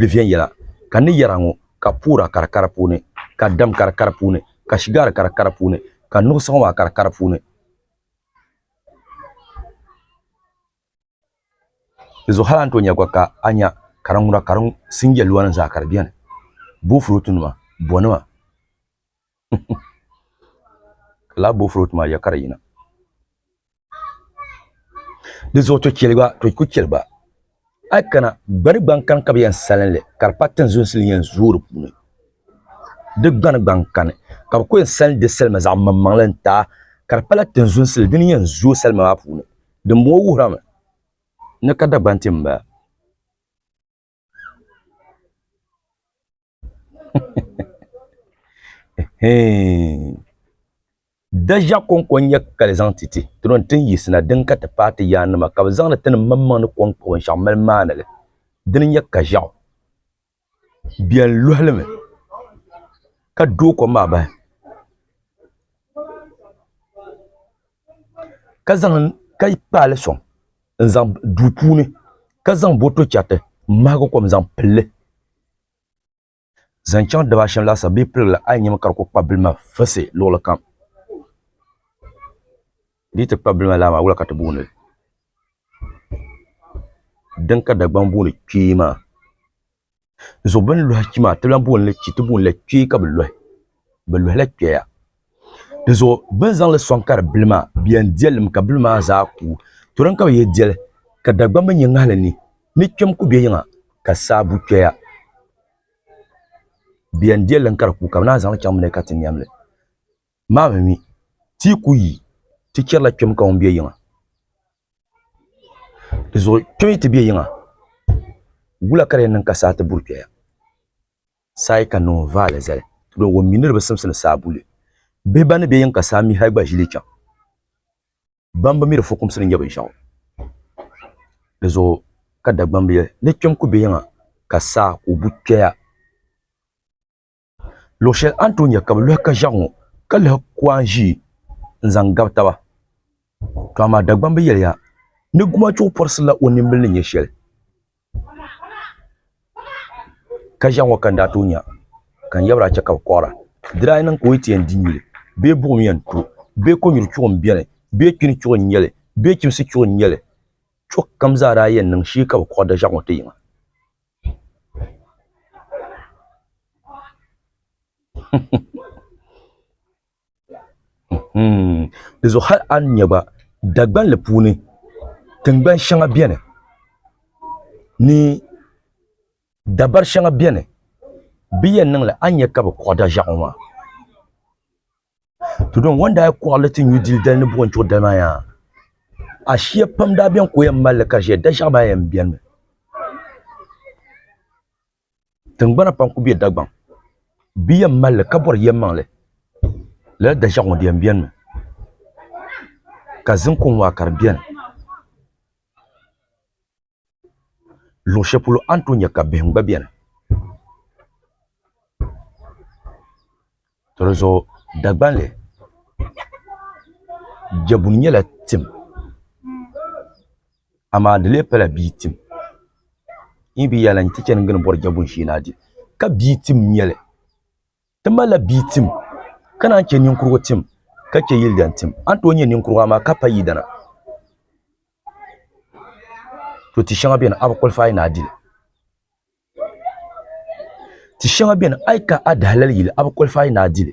li viɛnyɛla, ka ni yɛra ŋɔ ka puura ka di ka di puuni, ka dam ka di ka di puuni, ka shigaari ka di ka di puuni, ka nuɣisigu maa ka di ka di puuni. Di zuɣu hali a ni tooi nya gba ka a nya ka di ŋuna ka di sinjɛ luanim zaa ka di beni, boofurootunima, bonima, Ka lahi booi fulooti maa ya ka di yina. Di zuɣu to cheli ba to ku cheli ba a yi kana gbani gbaŋ kani ka bi yɛn salinli ka di pa tinzunsi ni yɛn zooi di puuni di gbani gbaŋ kani ka bi ku yɛn salin di salima zaɣ maŋmaŋli n taai ka di pala tinzunsi li dini yɛn zooi salima maa puuni dinbɔŋɔ wuhirimi ni ka Dagbanti n bala. Daʒa kɔŋko n-nyɛ ka di zaŋ ti ti tiri o ni tin yiɣisina din ka ti paai ti yaannima ka bɛ zaŋdi ti ni maŋmaŋ ni kɔŋko binshɛɣu mali maani li dini n-nyɛ Kaʒiɣu beni luɣili mi ka dooi kom maa bahi ka kpaali soŋ n zaŋ duu puuni ka zaŋ boto chɛriti n mahagi kom zaŋ pilli zaŋ chɛŋ dabashiɛm laasabu bee piligila a yi nyɛmi ka di ku kpabi bili maa fisi luɣuli kam di yi ti kpabi bili maa lala maa wula ka ti booni li dini ka Dagbaŋ booni kpee maa zuɣu bini lohi kpɛ maa ti lahi booni la kpee ka bi lohi bi lohila kpɛya di zuɣu bini zaŋli soŋ ka di bili maa di yɛn dilim ka bili maa zaa kuui to din ka bi yɛn diɛli ka dagbaŋ mi nyɛ ŋahili ni ni kpɛm ku bɛ yiŋa ka sabbu kpɛya di yɛn dilim ka di kuui ka bi naan zaŋli chaŋ mi ni ka ti niɛm li. Maa mi mi, ti yi ku yi, ti chɛrila kpɛm ka ŋun be yiŋa. Di zuɣu kpɛm yi ti be yiŋa, wula ka di yɛn niŋ ka saa ti buri kpɛya? Saa yi kani ni ŋun vaai li zali, dɔnku ŋun mi ni di bi simsi ni saa bu li. Bihi ban ni be yiŋ ka saa mi hal gba ʒi li chaŋ, ban bi mi di fukumsi ni nyɛ binshɛɣu. Di zuɣu ka Dagbamb yɛli ni kpɛm ku be yiŋa ka saa ka o bu kpɛya. Luɣ shɛli a ni tooi nya ka bɛ lɔhi ka ʒiɛɣu ŋɔ, ka lahi ku a ni ʒii n-zaŋ gabi taba. Tɔ amaa Dagbamba bi yɛli ya ni gumachuɣu pɔrisirila o nimbila ni nya shɛli ka ʒiɛɣu ŋɔ ka ni daa tooi nya ka n yabira chɛ ka bɛ kɔɣira. Di daa niŋ ka o yi ti yɛn di nyuli bee buɣim yɛn to bee kɔnyuri chuɣu m-be ni bee kpini chuɣu n-nyɛ li bee chimsi chuɣu n-nyɛ li, chuɣu kam zaa daa yɛn niŋ shee ka bɛ kɔɣi daʒiɛɣu ŋɔ ti yiŋa. Di zuɣu hali a ni nyɛ gba Dagbanli puuni tingbani shɛŋa biɛni ni dabari shɛŋa biɛni bi yɛn niŋli a ni nyɛ ka bi kpuɣi da ʒiɛɣu ŋɔ maa to don ŋun daa kɔɣili ti nyu dili dali ni buɣim chuɣu dali maa yaa ashia pam daa beni ka o yɛn mali li ka ʒiya daʒiɛɣu maa yɛn beni mi tingbana pam kuli be Dagbaŋ bɛ yɛn mali li ka bɔri yɛlimaŋli lala daʒiɛɣu ŋɔ di yɛn beni mi ka zim kɔŋ maa ka di beni Luɣ shɛli polo a ni tooi nya ka bihim gba beni. Tɔ di zuɣu Dagbamli Jɛbuni nyɛla tim amaa di lee pala bia tim. N yi be yaali la n ti chani n gini bɔri Jɛbuni shee na di ka bia tim n-nyɛ li. Ti malila bia tim ka naan che niŋkurugu tim ka che yilidan tim. A ni tooi nya niŋkurugu amaa ka pa yidana. To ti shɛŋa beni a bi qualify ni a dili ti shɛŋa beni a yi ka a di halali yili a bi qualify ni a dili.